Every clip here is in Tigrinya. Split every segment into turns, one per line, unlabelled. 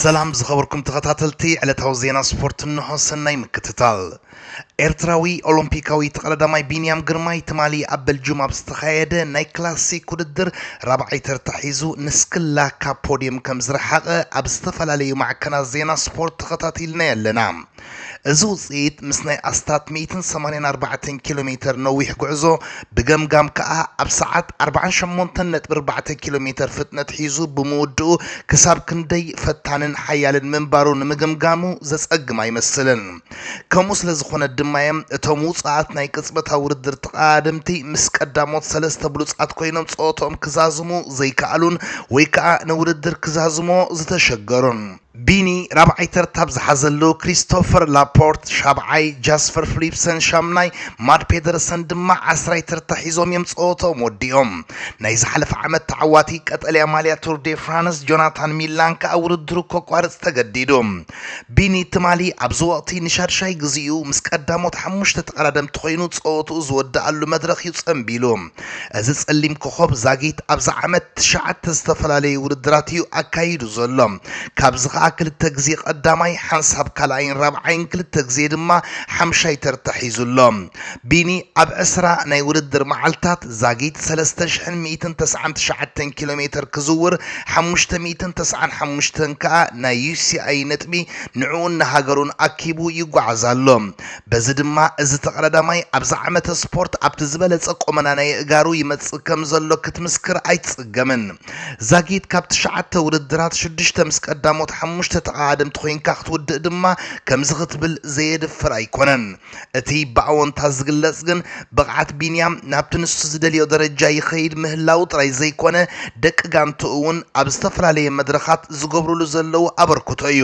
ሰላም ዝኸበርኩም ተኸታተልቲ ዕለታዊ ዜና ስፖርት እንሆ ሰናይ ምክትታል። ኤርትራዊ ኦሎምፒካዊ ተቐዳዳማይ ቢንያም ግርማይ ትማሊ ኣብ በልጁም ኣብ ዝተኻየደ ናይ ክላሲክ ውድድር ራብዓይ ተርታ ሒዙ ንስክላ ካብ ፖድየም ከም ዝረሓቐ ኣብ ዝተፈላለዩ ማዕከናት ዜና ስፖርት ተኸታቲልናዮ ኣለና። እዚ ውጽኢት ምስ ናይ ኣስታት ሚእትን ሰማንያን ኣርባዕተን ኪሎ ሜተር ነዊሕ ጉዕዞ ብገምጋም ከኣ ኣብ ሰዓት ኣርባዓን ሸሞንተን ነጥቢ ኣርባዕተ ኪሎ ሜተር ፍጥነት ሒዙ ብምውድኡ ክሳብ ክንደይ ፈታንን ሓያልን ምንባሩ ንምግምጋሙ ዘጸግም ኣይመስልን። ከምኡ ስለ ዝኾነ ድማ'ዮም እቶም ውጹኣት ናይ ቅጽበታዊ ውድድር ተቐዳደምቲ ምስ ቀዳሞት ሰለስተ ብሉጻት ኮይኖም ጸወትኦም ክዛዝሙ ዘይከኣሉን ወይ ከኣ ንውድድር ክዛዝሙዎ ዝተሸገሩን። ቢኒ ራብዓይ ተርታ ኣብ ዝሓዘሉ፣ ክሪስቶፈር ላፖርት ሻብዓይ፣ ጃስፐር ፍሊፕሰን ሻምናይ፣ ማድ ፔደርሰን ድማ ዓስራይ ተርታ ሒዞም እዮም ጸወትኦም ወዲኦም። ናይ ዝሓለፈ ዓመት ተዓዋቲ ቀጠልያ ማልያ ቱር ዴ ፍራንስ ጆናታን ሚላን ከኣ ውድድሩ ከቋርጽ ተገዲዱ። ቢኒ ትማሊ ኣብዚ ወቕቲ ንሻድሻይ ግዜኡ ምስ ቀዳሞት ሓሙሽተ ተቐዳደምቲ ኮይኑ ጸወትኡ ዝወደኣሉ መድረኽ እዩ ጸንቢሉ። እዚ ጸሊም ኮኾብ ዛጊት ኣብዚ ዓመት ትሽዓተ ዝተፈላለዩ ውድድራት እዩ ኣካይዱ ዘሎ። ካብዚ ከኣ ክልተ ግዜ ቀዳማይ፣ ሓንሳብ ካልኣይን ራብዓይን ክልተ ግዜ ድማ ሓምሻይ ተርታ ሒዙ ኣሎ። ቢኒ ኣብ ዕስራ ናይ ውድድር መዓልታት ዛጊት ሰለስተ ሽሕን ሚእትን ተስዓን ትሽዓተን ኪሎ ሜተር ክዝውር ሓሙሽተ ሚእትን ተስዓን ሓሙሽተን ከኣ ናይ ዩሲኣይ ነጥቢ ንዕኡን ንሃገሩን ኣኪቡ ይጓዓዝ ኣሎ። በዚ ድማ እዚ ተቐዳዳማይ ኣብዚ ዓመተ ስፖርት ኣብቲ ዝበለጸ ቆመና ናይ ኣእጋሩ ይመጽእ ከም ዘሎ ክትምስክር ኣይትጽገምን። ዛጊት ካብ ትሽዓተ ውድድራት ሽዱሽተ ምስ ቀዳሞት ሓሙሽተ ተቐዳደምቲ ኮይንካ ክትውድእ ድማ ከምዚ ክትብል ዘየድፍር ኣይኮነን። እቲ ብኣወንታ ዝግለጽ ግን ብቕዓት ቢንያም ናብቲ ንሱ ዝደልዮ ደረጃ ይኸይድ ምህላዉ ጥራይ ዘይኮነ ደቂ ጋንትኡ እውን ኣብ ዝተፈላለየ መድረኻት ዝገብሩሉ ዘለዉ ኣበርክቶ እዩ።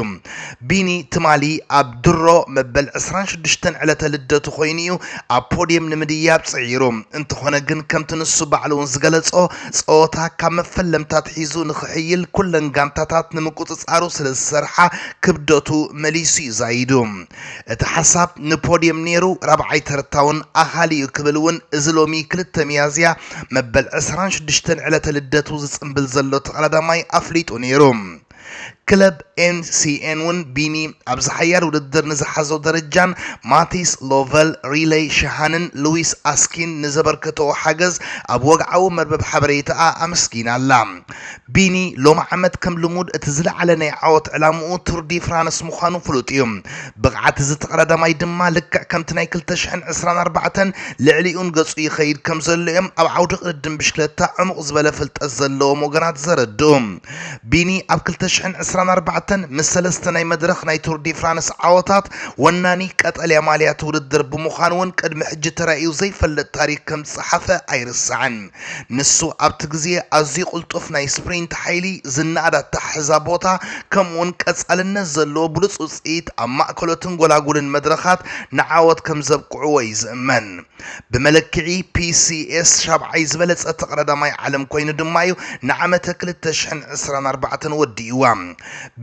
ቢኒ ትማሊ ኣብ ድሮ መበል ዕስራን ሽዱሽተን ዕለተ ልደቱ ኮይኑ'ዩ ኣብ ፖድየም ንምድያብ ጽዒሩ። እንተኾነ ግን ከምቲ ንሱ ባዕሉ'ውን ዝገለጾ ጸወታ ካብ መፈለምታ ኣትሒዙ ንኽሕይል ኩለን ጋንታታት ንምቁጽጻሩ ስለዝሰርሓ ክብደቱ መሊሱ'ዩ ዛይዱ። እቲ ሓሳብ ንፖድየም ነይሩ ራብዓይ ተርታ'ውን ኣኻሊ'ዩ ክብል'ውን እዚ ሎሚ ክልተ ሚያዝያ መበል ዕስራን ሽዱሽተን ዕለተ ልደቱ ዝጽንብል ዘሎ ተቐዳዳማይ ኣፍሊጡ ነይሩ። ክለብ ኤንሲኤን እውን ቢኒ ኣብዚ ሓያል ውድድር ንዝሓዞ ደረጃን ማቲስ ሎቨል፣ ሪለይ ሸሃንን ሉዊስ ኣስኪን ንዘበርከተኦ ሓገዝ ኣብ ወግዓዊ መርበብ ሓበሬታኣ ኣመስጊና ኣላ። ቢኒ ሎሚ ዓመት ከም ልሙድ እቲ ዝለዓለ ናይ ዓወት ዕላምኡ ቱር ዲ ፍራንስ ምዃኑ ፍሉጥ እዩ። ብቕዓት እዚ ተቐዳዳማይ ድማ ልክዕ ከምቲ ናይ ክልተ ሽሕን ዕስራን ኣርባዕተን ልዕሊኡን ገጹ ይኸይድ ከምዘሎ እዮም ኣብ ዓውዲ ቅድድም ብሽክለታ ዕሙቕ ዝበለ ፍልጠት ዘለዎም ወገናት ዘረድኡ። ቢኒ ኣብ ክልተ ሽሕን ዕስራን ኣርባዕተን ምስ ሰለስተ ናይ መድረኽ ናይ ቱር ዲ ፍራንስ ዓወታት ወናኒ ቀጠልያ ማልያ እቲ ውድድር ብምዃን እውን ቅድሚ ሕጂ ተራእዩ ዘይፈልጥ ታሪክ ከም ዝጸሓፈ ኣይርሳዕን። ንሱ ኣብቲ ግዜ ኣዝዩ ቅልጡፍ ናይ ስፕሪንት ሓይሊ፣ ዝነኣድ ኣተሓሕዛ ቦታ፣ ከምኡ'ውን ቀጻልነት ዘለዎ ብሉጽ ውጽኢት ኣብ ማእከሎትን ጎላጉልን መድረኻት ንዓወት ከም ዘብቅዕዎ እዩ ዝእመን። ብመለክዒ ፒሲኤስ ሻብዓይ ዝበለፀ ተቐዳዳማይ ዓለም ኮይኑ ድማ እዩ ንዓመተ ክልተ ሽሕን ዕስራን ኣርባዕተን ወዲእዋ።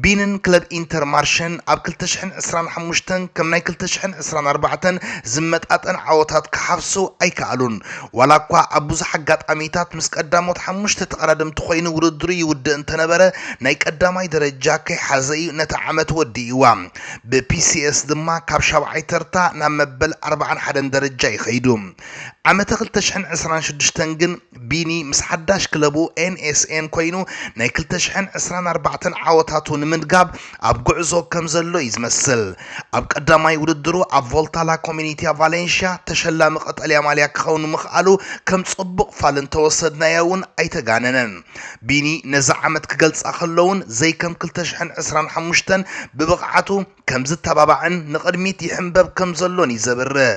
ቢንን ክለብ ኢንተር ማርሸን ኣብ ክልተ ሽሕን ዕስራን ሓሙሽተን ከም ናይ ክልተ ሽሕን ዕስራን ኣርባዕተን ዝመጣጠን ዓወታት ክሓፍሱ ኣይከኣሉን። ዋላ እኳ ኣብ ብዙሕ ኣጋጣሚታት ምስ ቀዳሞት ሓሙሽተ ተቐዳደምቲ ኮይኑ ውድድሩ ይውድእ እንተነበረ ናይ ቀዳማይ ደረጃ ከይሓዘ እዩ ነቲ ዓመት ወዲእዋ። ብፒሲኤስ ድማ ካብ ሻብዓይ ተርታ ናብ መበል ኣርባዓን ሓደን ደረጃ እዩ ከይዱ። ዓመተ ክልተ ሽሕን ዕስራን ሽዱሽተን ግን ቢኒ ምስ ሓዳሽ ክለቡ ኤንኤስኤን ኮይኑ ናይ ክልተ ሽሕን ዕስራን ኣርባዕተን ዓወታቱ ንምድጋብ ኣብ ጉዕዞ ከም ዘሎ እዩ ዝመስል። ኣብ ቀዳማይ ውድድሩ ኣብ ቮልታ ላ ኮሚኒትያ ቫሌንሽያ ተሸላሚ ቀጠልያ ማልያ ክኸውን ምኽኣሉ ከም ጽቡቕ ፋል እንተወሰድናዮ እውን ኣይተጋነነን። ቢኒ ነዛ ዓመት ክገልጻ ከሎውን ዘይከም ክልተ ሽሕን ዕስራን ሓሙሽተን ብብቕዓቱ ከም ዝተባባዕን ንቕድሚት ይሕንበብ ከም ዘሎን እዩ ዘብርህ።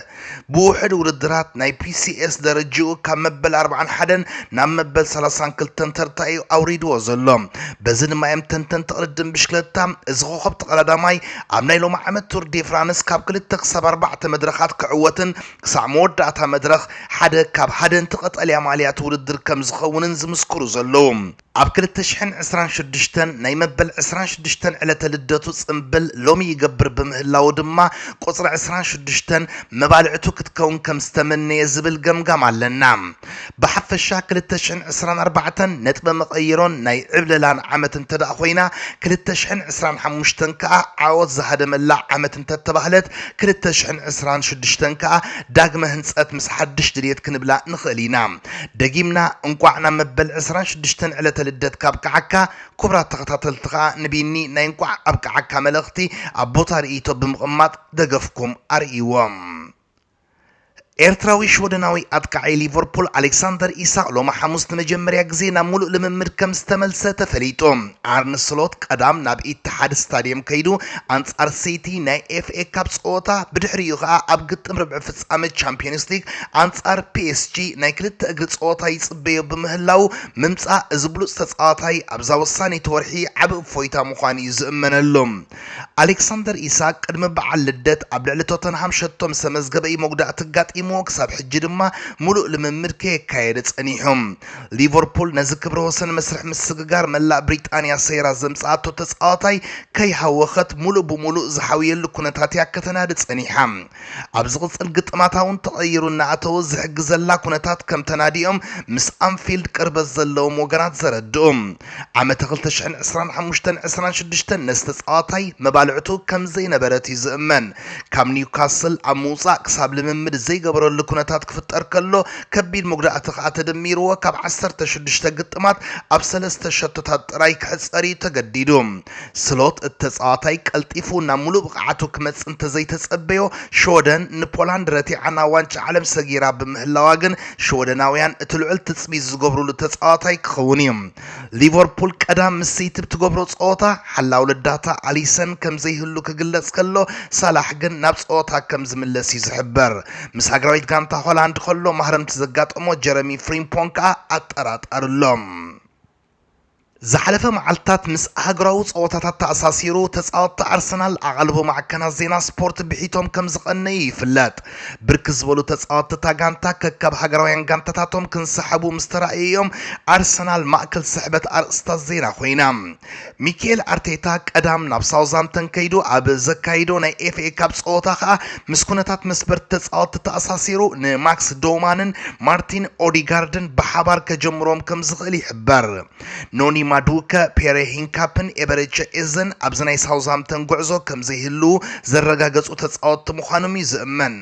ብውሕድ ውድድራት ናይ ፒሲኤስ ደረጅኡ ካብ መበል ኣርብዓን ሓደን ናብ መበል ሰላሳን ክልተን ተርታ እዩ ኣውሪድዎ ዘሎ። በዚ ድማ እዮም ተንተንቲ ቅድድም ብሽክለታ እዚ ኮኸብ ተቐዳዳማይ ኣብ ናይ ሎሚ ዓመት ቱር ዴ ፍራንስ ካብ ክልተ ክሳብ ኣርባዕተ መድረኻት ክዕወትን ክሳዕ መወዳእታ መድረኽ ሓደ ካብ ሃደንቲ ቀጠልያ ማልያ'ቲ ውድድር ከም ዝኸውንን ዝምስክሩ ዘለዉ። ኣብ ክልተ ሽሕን ዕስራን ሽዱሽተን ናይ መበል ዕስራን ሽዱሽተን ዕለተ ልደቱ ጽምብል ሎሚ ይገብር ብምህላዉ ድማ ቁጽሪ ዕስራን ሽዱሽተን መባልዕቱ ክትከውን ከም ዝተመነየ ዝብል ገምጋም ኣለና። ብሓፈሻ ክልተ ሽሕን ዕስራን ኣርባዕተን ነጥበ መቐይሮን ናይ ዕብለላን ዓመት እንተድኣ ኮይና፣ ክልተ ሽሕን ዕስራን ሓሙሽተን ከኣ ዓወት ዝሃደመላ ዓመት እንተተባህለት፣ ክልተ ሽሕን ዕስራን ሽዱሽተን ከኣ ዳግመ ህንጸት ምስ ሓድሽ ድልየት ክንብላ ንኽእል ኢና። ደጊምና እንቋዕ ናብ መበል ዕስራን ሽዱሽተን ዕለተ ልደትካ ኣብቅዓካ። ኩብራት ተኸታተልቲ ከኣ ንቢኒ ናይ እንቋዕ ኣብቅዓካ መልእኽቲ ኣብ ቦታ ርእይቶ ብምቕማጥ ደገፍኩም ኣርእይዎም። ኤርትራዊ ሽወደናዊ ኣጥቃዓይ ሊቨርፑል ኣሌክሳንደር ኢሳቕ ሎሚ ሓሙስ ንመጀመርያ ግዜ ናብ ሙሉእ ልምምድ ከም ዝተመልሰ ተፈሊጡ። ኣርነ ስሎት ቀዳም ናብ ኢትሓድ ስታድየም ከይዱ ኣንጻር ሲቲ ናይ ኤፍኤ ካፕ ጸወታ ብድሕሪኡ ከኣ ኣብ ግጥም ርብዒ ፍጻመ ቻምፕዮንስ ሊግ ኣንጻር ፒኤስጂ ናይ ክልተ እግሪ ጸወታ ይጽበዮ ብምህላዉ ምምጻእ እዚ ብሉጽ ተጻዋታይ ኣብዛ ወሳኒት ወርሒ ዓቢ እፎይታ ምዃኑ'ዩ ዝእመነሉ። ኣሌክሳንደር ኢሳክ ቅድሚ በዓል ልደት ኣብ ልዕሊ ቶተንሃም ሸቶ ምስ ተመዝገበ እዩ መጉዳእቲ ኣጋጢምዎ ክሳብ ሕጂ ድማ ሙሉእ ልምምድ ከየካየደ ጸኒሑ። ሊቨርፑል ነዚ ክብረ ወሰን መስርሕ ምስግጋር መላእ ብሪጣንያ ሰይራ ዘምጽኣቶ ተጻዋታይ ከይሃወኸት ሙሉእ ብሙሉእ ዝሓውየሉ ኩነታት እያ ከተናዲ ጸኒሓ። ኣብ ዝቕጽል ግጥማታ እውን ተቐይሩ እናኣተወ ዝሕግዘላ ኩነታት ከም ተናድዮም ምስ ኣንፊልድ ቅርበት ዘለዎም ወገናት ዘረድኡ። ዓመተ ክልተ ሽሕን ዕስራን ሓሙሽተን ዕስራን ሽዱሽተን ነዚ ተጻዋታይ መባልዕቱ ከም ዘይነበረት እዩ ዝእመን። ካብ ኒውካስል ኣብ ምውጻእ ክሳብ ልምምድ ዘይገበረሉ ኩነታት ክፍጠር ከሎ ከቢድ መጉዳእቲ ከኣ ተደሚርዎ ካብ ዓሰርተ ሽዱሽተ ግጥማት ኣብ ሰለስተ ሸቶታት ጥራይ ክሕጸር እዩ ተገዲዱ። ስሎት እቲ ተጻዋታይ ቀልጢፉ ናብ ምሉእ ብቕዓቱ ክመጽእ እንተዘይተጸበዮ፣ ሽወደን ንፖላንድ ረቲዓ ናብ ዋንጫ ዓለም ሰጊራ ብምህላዋ ግን ሽወደናውያን እቲ ልዑል ትጽቢት ዝገብሩሉ ተጻዋታይ ክኸውን እዩ። ሊቨርፑል ቀዳም ምስ ሲቲ ብትገብሮ ጸወታ፣ ሓላው ልዳታ ኣሊሰን ከምዘይህሉ ክግለጽ ከሎ፣ ሳላሕ ግን ናብ ጸወታ ከምዝምለስ እዩ ዝሕበር። ምስ ሃገራዊት ጋንታ ሆላንድ ከሎ ማህረምቲ ዘጋጠሞ ጀረሚ ፍሪምፖንግ ከኣ ኣጠራጣሪ ኣሎ። ዝሓለፈ መዓልታት ምስ ኣህጉራዊ ጸወታታት ተኣሳሲሩ ተጻወትቲ ኣርሰናል ኣቓልቦ ማዕከናት ዜና ስፖርት ብሒቶም ከም ዝቐነዩ ይፍለጥ። ብርክት ዝበሉ ተጻወትቲ እታ ጋንታ ከካብ ሃገራውያን ጋንታታቶም ክንሰሓቡ ምስ ተራእዩ'ዮም ኣርሰናል ማእከል ስሕበት ኣርእስታት ዜና ኮይና። ሚኬል ኣርቴታ ቀዳም ናብ ሳውዛምተን ከይዱ ኣብ ዘካይዶ ናይ ኤፍኤ ካፕ ጸወታ ከኣ ምስ ኩነታት መስበርቲ ተጻወትቲ ተኣሳሲሩ ንማክስ ዶማንን ማርቲን ኦዲጋርድን ብሓባር ከጀምሮም ከም ዝኽእል ይሕበር። ኖኒ ማዱከ፣ ፔሬ ሂንካፕን ኤበሬቸ ኤዘን ኣብዚ ናይ ሳውዝሃምፕተን ጉዕዞ ከም ዘይህልዉ ዘረጋገጹ ተጻወትቲ ምዃኖም'ዩ ዝእመን።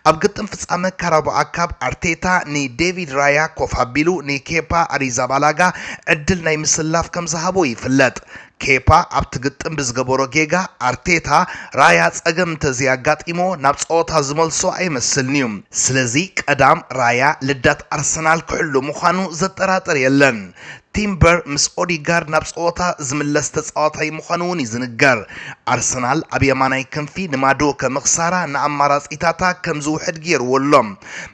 ኣብ ግጥም ፍጻመ ካራቦኣ ካፕ ኣርቴታ ንዴቪድ ራያ ኮፍ ኣቢሉ ንኬፓ ኣሪዛባላጋ ዕድል ናይ ምስላፍ ከም ዝሃቦ ይፍለጥ። ኬፓ ኣብቲ ግጥም ብዝገበሮ ጌጋ ኣርቴታ፣ ራያ ጸገም እንተዘይኣጋጢምዎ ናብ ጸወታ ዝመልሶ ኣይመስልን'ዩ። ስለዚ ቀዳም ራያ ልዳት ኣርሰናል ክሕሉ ምዃኑ ዘጠራጥር የለን። ቲምበር ምስ ኦዲጋርድ ናብ ጸወታ ዝምለስ ተጻዋታይ ምዃኑ'ውን እዩ ዝንገር። ኣርሰናል ኣብ የማናይ ክንፊ ንማዱወከ ምኽሳራ ንኣማራጺታታ ከም ዝውሕድ ገይርዎ ኣሎ።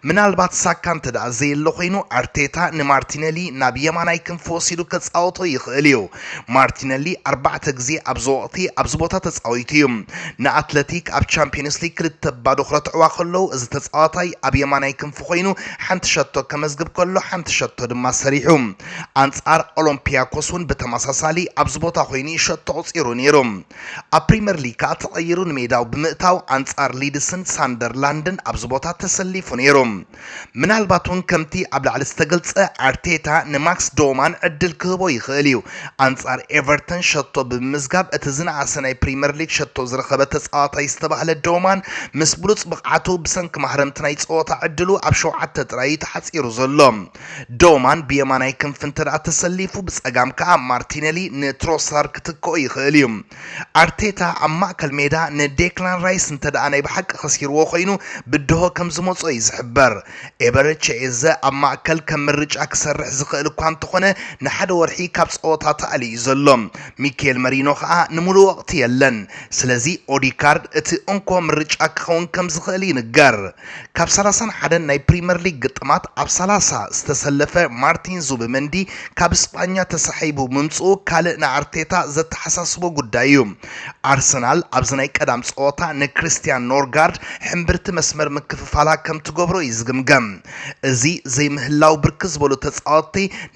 ምናልባት ሳካ እንተደኣ ዘየሎ ኮይኑ ኣርቴታ ንማርቲነሊ ናብ የማናይ ክንፊ ወሲዱ ከጻውቶ ይኽእል'ዩ። ማርቲነሊ ኣርባዕተ ግዜ ኣብዚ ወቕቲ ኣብዚ ቦታ ተጻዊቱ እዩ። ንኣትለቲክ ኣብ ቻምፕዮንስ ሊግ ክልተ ብ ባዶ ክረትዕዋ ከለዉ እዚ ተጻዋታይ ኣብ የማናይ ክንፊ ኮይኑ ሓንቲ ሸቶ ከመዝግብ ከሎ ሓንቲ ሸቶ ድማ ሰሪሑ። ኣንጻር ኦሎምፒያኮስ ውን ብተመሳሳሊ ኣብዚ ቦታ ኮይኑ እዩ ሸቶ ኣቑጺሩ ነይሩ። ኣብ ፕሪመር ሊግ ከኣ ተቐይሩ ንሜዳኡ ብምእታው ኣንጻር ሊድስን ሳንደርላንድን ኣብዚ ቦታ ተሰሊፉ ነይሩ። ምናልባት'ውን ከምቲ ኣብ ላዕሊ ዝተገልጸ ኣርቴታ ንማክስ ዶማን ዕድል ክህቦ ይኽእል እዩ። ኣንጻር ኤቨርተን ሸቶ ብምምዝጋብ እቲ ዝነኣሰ ናይ ፕሪመር ሊግ ሸቶ ዝረኸበ ተጻዋታይ ዝተባህለ ዶማን ምስ ብሉጽ ብቕዓቱ ብሰንኪ ማህረምቲ ናይ ጸወታ ዕድሉ ኣብ ሸውዓተ ጥራይ እዩ ተሓጺሩ ዘሎ። ዶማን ብየማናይ ክንፊ እንተደኣ ተሰሊፉ ብጸጋም ከኣ ማርቲነሊ ንትሮሳር ክትክኦ ይኽእል እዩ። ኣርቴታ ኣብ ማእከል ሜዳ ንዴክላን ራይስ እንተደኣ ናይ ብሓቂ ከሲርዎ ኮይኑ ብድሆ ከም ዝመጾ እዩ ዝሕበር። ኤበረቸ ኤዘ ኣብ ማእከል ከም ምርጫ ክሰርሕ ዝኽእል እኳ እንተኾነ ንሓደ ወርሒ ካብ ጸወታ ተኣልዩ እዩ ዘሎ። ሚኬል መሪኖ ከኣ ንምሉእ ወቕቲ የለን። ስለዚ ኦዲካርድ እቲ እንኮ ምርጫ ክኸውን ከም ዝኽእል ይንገር። ካብ ሰላሳን ሓደን ናይ ፕሪመር ሊግ ግጥማት ኣብ ሰላሳ ዝተሰለፈ ማርቲን ዙብመንዲ ካብ ስጳኛ ተሳሒቡ ምምጽኡ ካልእ ንኣርቴታ ዘተሓሳስቦ ጉዳይ እዩ። ኣርሰናል ኣብዚ ናይ ቀዳም ጸወታ ንክሪስትያን ኖርጋርድ ሕምብርቲ መስመር ምክፍፋላ ከም ትገብሮ እዩ ዝግምገም። እዚ ዘይምህላው ብርክት ዝበሉ ተጻወትቲ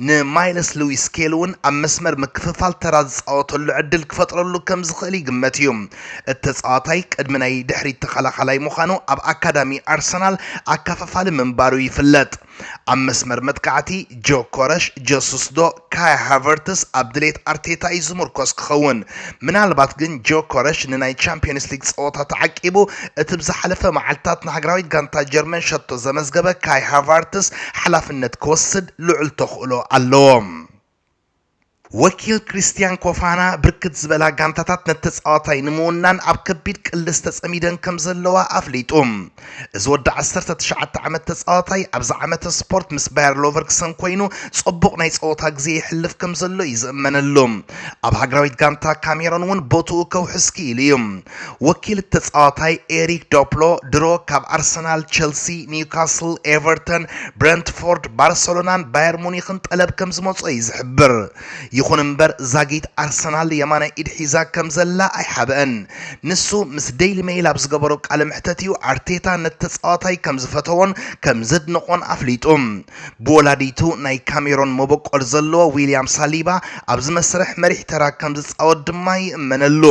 ንማይልስ ልዊስ ስኬሊ'ውን ኣብ መስመር ምክፍፋል ተራ ዝጻወተሉ ዕድል ክፈጥረሉ ከም ዝኽእል ይግመት እዩ። እቲ ተጻዋታይ ቅድሚ ናይ ድሕሪት ተኸላኻላይ ምዃኑ ኣብ ኣካዳሚ ኣርሰናል ኣካፋፋሊ ምንባሩ ይፍለጥ። ኣብ መስመር መጥቃዕቲ፣ ጆኮረሽ፣ ጀሱስ ዶ ካይ ሃቨርትስ ኣብ ድሌት ኣርቴታ እዩ ዝምርኮስ ክኸውን። ምናልባት ግን ጆኮረሽ ንናይ ቻምፕዮንስ ሊግ ጸወታ ተዓቂቡ እቲ ብዝሓለፈ መዓልታት ንሃገራዊት ጋንታ ጀርመን ሸቶ ዘመዝገበ ካይ ሃቫርትስ ሓላፍነት ክወስድ ልዑል ተኽእሎ ኣሎ። ወኪል ክሪስትያን ኮፋና፣ ብርክት ዝበላ ጋንታታት ነቲ ተጻዋታይ ንምውናን ኣብ ከቢድ ቅልስ ተጸሚደን ከምዘለዋ ኣፍሊጡ። እዚ ወዲ ዓሰርተ ትሽዓተ ዓመት ተጻዋታይ፣ ኣብዚ ዓመተ ስፖርት ምስ ባየር ሎቨርክሰን ኮይኑ ጽቡቕ ናይ ጸወታ ግዜ የሕልፍ ከምዘሎ እዩ ዝእመነሉ። ኣብ ሃገራዊት ጋንታ ካሜሮን እውን ቦትኡ ከውሕስ ክኢሉ እዩ። ወኪል እቲ ተጻዋታይ ኤሪክ ዶፕሎ ድሮ ካብ ኣርሰናል፣ ቸልሲ፣ ኒውካስል፣ ኤቨርተን፣ ብረንትፎርድ፣ ባርሰሎናን ባየር ሙኒክን ጠለብ ከምዝመጾ እዩ ዝሕብር። ይኹን እምበር ዛጊት ኣርሰናል የማናይ ኢድ ሒዛ ከምዘላ ኣይሓበአን። ንሱ ምስ ደይሊ መይል ኣብ ዝገበሮ ቃለ መሕተት እዩ ኣርቴታ ነቲ ተጻዋታይ ከምዝፈተዎን ከምዘድነቖን ኣፍሊጡ። ብወላዲቱ ናይ ካሜሮን መበቆል ዘለዎ ዊልያም ሳሊባ ኣብዚ መስርሕ መሪሕ ተራ ከምዝጻወት ድማ ይእመነሉ።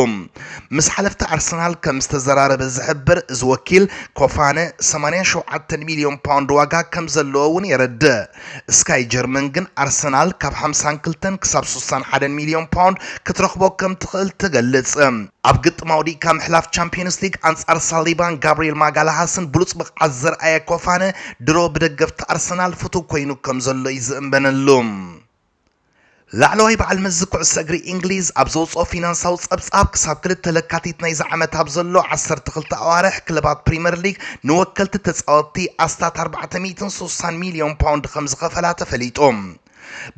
ምስ ሓለፍቲ ኣርሰናል ከም ዝተዘራረበ ዝሕብር እዚ ወኪል፣ ኮፋነ ሰማንያ ሸውዓተ ሚልዮን ፓውንድ ዋጋ ከም ዘለዎ እውን የረድእ። ስካይ ጀርመን ግን ኣርሰናል ካብ ሓምሳን ክልተን ክሳብ ስሳን ሓደን ሚልዮን ፓውንድ ክትረኽቦ ከም ትኽእል ትገልጽ። ኣብ ግጥም ኣውዲቕካ ምሕላፍ ቻምፕዮንስ ሊግ ኣንጻር ሳሊባን ጋብርኤል ማጋላሃስን ብሉጽ ብቕዓት ዘርኣየ ኮፋነ፣ ድሮ ብደገፍቲ ኣርሰናል ፍቱው ኰይኑ ከም ዘሎ'ዩ ዝእንበነሉ። ላዕለዋይ በዓል መዚ ኩዕሶ እግሪ እንግሊዝ ኣብ ዘውጽኦ ፊናንሳዊ ጸብጻብ፣ ክሳብ ክልተ ለካቲት ናይዚ ዓመት ኣብ ዘሎ ዓሰርተ ክልተ ኣዋርሕ፣ ክለባት ፕሪመር ሊግ ንወከልቲ ተጻወትቲ ኣስታት ኣርባዕተ ሚእትን ስሳን ሚልዮን ፓውንድ ከምዝኸፈላ ተፈሊጡ።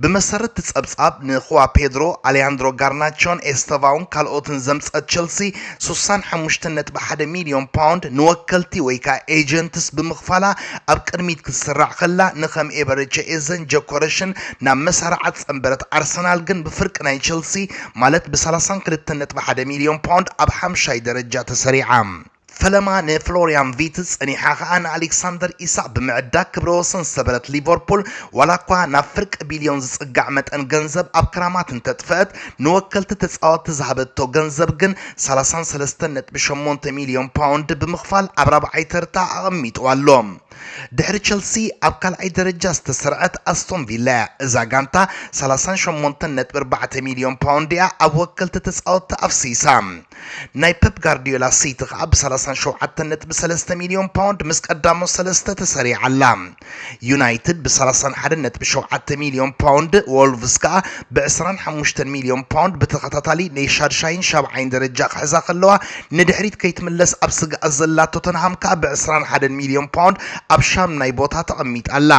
ብመሰረት'ቲ ጸብጻብ፣ ንኹዋ ፔድሮ፣ ኣሌያንድሮ ጋርናቾን ኤስተቫውን ካልኦትን ዘምጽኣት ቸልሲ፣ ስሳን ሓሙሽተን ነጥቢ ሓደ ሚልዮን ፓውንድ ንወከልቲ ወይ ከኣ ኤጀንትስ ብምኽፋላ ኣብ ቅድሚት ክትስራዕ ከላ፣ ንከም ኤበረቸ ኤዘን ጀኮረሽን ናብ መሳርዓ ጸንበረት ኣርሰናል ግን ብፍርቂ ናይ ቸልሲ ማለት ብ ሰላሳን ክልተን ነጥቢ ሓደ ሚልዮን ፓውንድ ኣብ ሓምሻይ ደረጃ ተሰሪዓ። ፈለማ ንፍሎርያን ቪትዝ ጸኒሓ ከኣ ንኣሌክሳንደር ኢሳቕ ብምዕዳግ ክብረ ወሰን ዝሰበረት ሊቨርፑል ዋላኳ ናብ ፍርቂ ቢልዮን ዝጽጋዕ መጠን ገንዘብ ኣብ ክራማት እንተጥፈኣት ንወከልቲ ተጻወትቲ ዝሃበቶ ገንዘብ ግን ሰላሳን ሰለስተን ነጥቢ ሸሞንተ ሚልዮን ፓውንድ ብምኽፋል ኣብ ራብዓይ ተርታ ኣቐሚጥዋ ኣሎ። ድሕሪ ቸልሲ ኣብ ካልኣይ ደረጃ ዝተሰርዐት ኣስቶን ቪላ'ያ። እዛ ጋንታ ሰላሳን ሸሞንተን ነጥቢ ኣርባዕተ ሚልዮን ፓውንድ'ያ ኣብ ወከልቲ ተጻወትታ ኣፍሲሳ። ናይ ፐፕ ጋርድዮላ ሲቲ ከኣ ብ ሰላሳን ሸውዓተን ነጥቢ ሰለስተ ሚልዮን ፓውንድ ምስ ቀዳሞት ሰለስተ ተሰሪዓ ኣላ። ዩናይትድ ብ ሰላሳን ሓደን ነጥቢ ሸውዓተ ሚልዮን ፓውንድ፣ ዎልቭስ ከኣ ብ ዕስራን ሓሙሽተን ሚልዮን ፓውንድ ብተኸታታሊ ነይ ሻድሻይን ሻብዓይን ደረጃ ክሕዛ ከለዋ ንድሕሪት ከይትምለስ ኣብ ስግኣት ዘላ ቶተንሃም ከኣ ብ ዕስራን ሓደን ሚልዮን ፓውንድ ኣብ ሻምናይ ቦታ ተቐሚጣ ኣላ።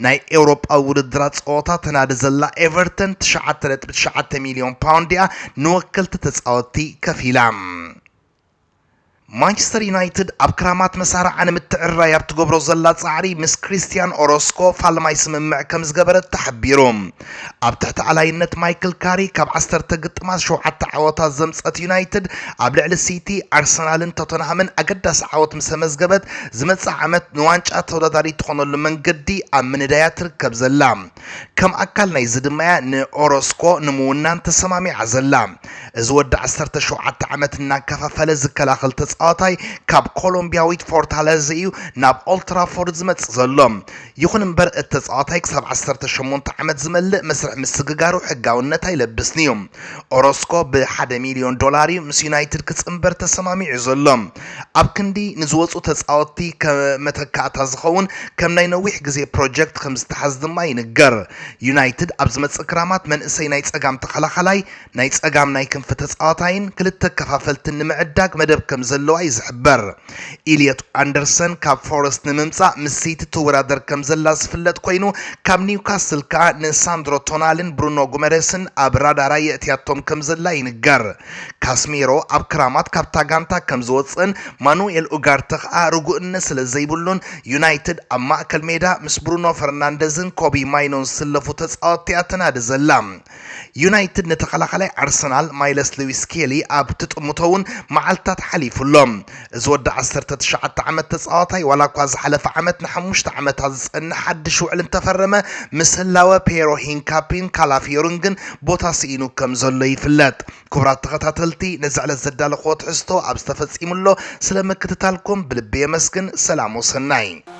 ናይ ኤውሮጳዊ ውድድራት ጸወታ ተናዲ ዘላ ኤቨርተን ትሽዓተ ነጥቢ ትሽዓተ ሚልዮን ፓውንድ'ያ ንወከልቲ ተጻወትቲ ከፊላ። ማንቸስተር ዩናይትድ ኣብ ክራማት መሳርዓ ንምትዕርራይ ኣብ ትገብሮ ዘላ ጻዕሪ ምስ ክሪስትያን ኦሮስኮ ፋልማይ ስምምዕ ከም ዝገበረት ተሓቢሩ። ኣብ ትሕቲ ኣላይነት ማይክል ካሪ ካብ ዓሰርተ ግጥማት ሸውዓተ ዓወታት ዘምጸት ዩናይትድ ኣብ ልዕሊ ሲቲ፣ ኣርሰናልን ቶተንሃምን ኣገዳሲ ዓወት ምስ ኣመዝገበት ዝመጽእ ዓመት ንዋንጫ ተወዳዳሪት ትኾነሉ መንገዲ ኣብ ምንዳያ ትርከብ ዘላ። ከም ኣካል ናይዚ ድማያ ንኦሮስኮ ንምውናን ተሰማሚዓ ዘላ። እዚ ወዲ ዓሰርተ ሸውዓተ ዓመት እናከፋፈለ ዝከላኸል ተጻዋታይ ካብ ኮሎምቢያዊት ፎርታለዘ እዩ ናብ ኦልትራፎርድ ዝመጽእ ዘሎ። ይኹን እምበር እቲ ተጻዋታይ ክሳብ ዓሰርተ ሸሞንተ ዓመት ዝመልእ መስርሕ ምስግጋሩ ሕጋውነት ኣይለብስን'ዩ። ኦሮስኮ ብሓደ ሚልዮን ዶላር እዩ ምስ ዩናይትድ ክጽንበር ተሰማሚዑ ዘሎ። ኣብ ክንዲ ንዝወጹ ተጻወትቲ መተካእታ ዝኸውን ከም ናይ ነዊሕ ግዜ ፕሮጀክት ከምዝተሓዝ ድማ ይንገር። ዩናይትድ ኣብ ዝመጽእ ክራማት መንእሰይ ናይ ጸጋም ተኸላኻላይ፣ ናይ ጸጋም ናይ ክንፊ ተጻዋታይን ክልተ ኣከፋፈልትን ንምዕዳግ መደብ ከምዘለዋ'ዩ ዝሕበር። ኢልዮት ኣንደርሰን ካብ ፎረስት ንምምጻእ ምስ ሲቲ ትወዳደር ከምዘላ ዝፍለጥ ኮይኑ ካብ ኒውካስል ከኣ ንሳንድሮ ቶናሊን ብሩኖ ጉመሬስን ኣብ ራዳራ የእትያቶም ከምዘላ ይንገር። ካስሚሮ ኣብ ክራማት ካብታ ጋንታ ከም ዝወጽእን ማኑኤል ኡጋርተ ከኣ ርጉእነት ስለ ዘይብሉን ዩናይትድ ኣብ ማእከል ሜዳ ምስ ብሩኖ ፈርናንደዝን ኮቢ ማይኖን ዝስለፉ ተጻወትቲ'ያ ተናዲ ዘላ። ዩናይትድ ንተኸላኻላይ ኣርሰናል ማይለስ ሉዊስ ስኬሊ ኣብ ትጥምቶ'ውን መዓልትታት ሓሊፉ ኣሎ። እዚ ወዲ ዓሰርተ ትሽዓተ ዓመት ተጻዋታይ ዋላ እኳ ዝሓለፈ ዓመት ንሓሙሽተ ዓመታት ዝጸንሕ ሓድሽ ውዕል እንተፈረመ ምስ ህላወ ፔሮ ሂንካፒን ካላፊዮሪን ግን ቦታ ስኢኑ ከምዘሎ ይፍለጥ። ክቡራት ተኸታተልቲ ነዚ ዕለት ዘዳለኽዎ ትሕዝቶ ኣብ ዝተፈጺሙሎ ስለ ምክትታልኩም ብልቢ የመስግን ሰላም ወሰናይ።